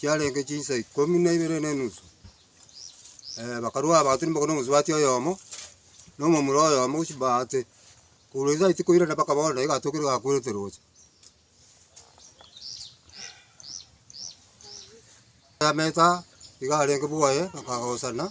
chiarenge chinsa ikomi na ibere ne enusu. bakarua abanto rimo korwa omosubati oyomo, na omomura oyomo gochia bahati, korwa ase echiko irana mpaka bono naiga atokire iga akwerete roche. Eameta iga arenge bwoye bakagosana.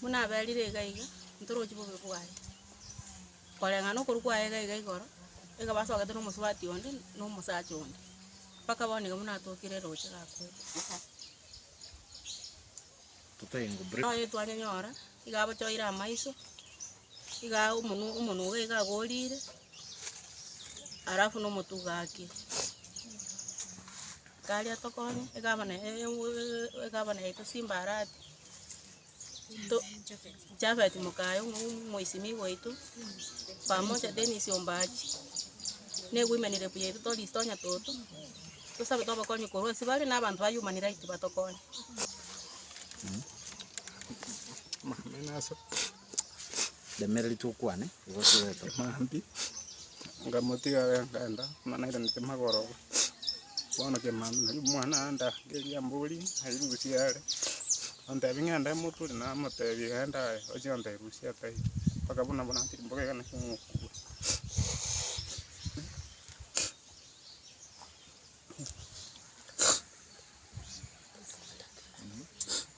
Buna aberire iga iga, ntorochi bobe bwaye. Koreng'ana okoru kwaye iga iga igoro, ekaba asogete na omosubati onde, na omosacha onde, mpaka bono iga buna atokire roche gakwete. Noyo etwanyenyora, iga abochoire amaiso. Iga omonwa omonwa obo iga agorire, alafu na omotu iga ake. Tari atokonye, egabana eye eeh egabana yaito simba arati, to Japhet mokaye omo omoisimigwa oito, pamoja Dennis ombachi, ne women rep yaito Doris Tonya toto, tosabe tobakonye korwa ase bare na abanto ba human right batokonye. Remereri tokwane, igo toete. Maambia, ngamotiga are ngenda, buna nairanete magoro, bono kemambia nari omwana ande angerie ambori nari rusia are, ontebi ng'ende moturi namotebi genda aye, ochia gontebia rusia atai, mpaka buna buna ntiri mbobe iga naki omokubua.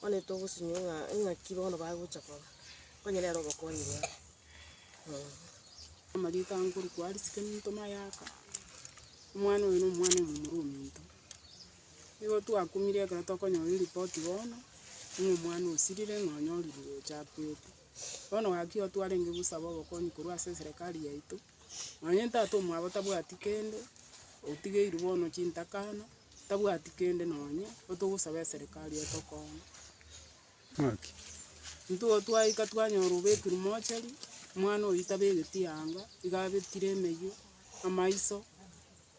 Bono togosinywa ng'a ng'aki bono bagocha koba, onye nere obokonyi bwabo. Amariko anga korokwa aria sekeminto mayaka, omwana oyo na omwana omomura ominto. Nigo twakumire ekero tokonyora eripoti bono, ng'a omwana osirire ng'a onyorirwe ocha akwete. Bono gaki igo twarenge gosaba obokonyi korwa ase eserekari yaito, Nonye tata omwabo tabwati kende, otigeirwe bono chintakana, tabwati kende nonye, nigo togosaba eserikari etokonye. Ng'aki? Intwe igo twaika twanyora obekirwe mochari, omwana oyio tabegeti anga, iga abetire emeywe, amaiso,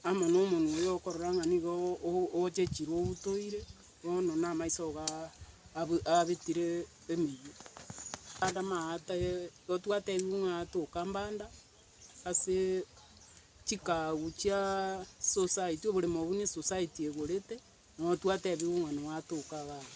Amo nomonwe oye okorora ng'a nigo o- o- ochechirwe outoire, bono na amaiso oo ga abu- abetire emeyio. Mbande amaate igo twatebiwu ng'a toka mbanda ase chikagu chia society, oboremo obwo ne society egorete, nabo twatebiwu ng'a natoka iga abwo.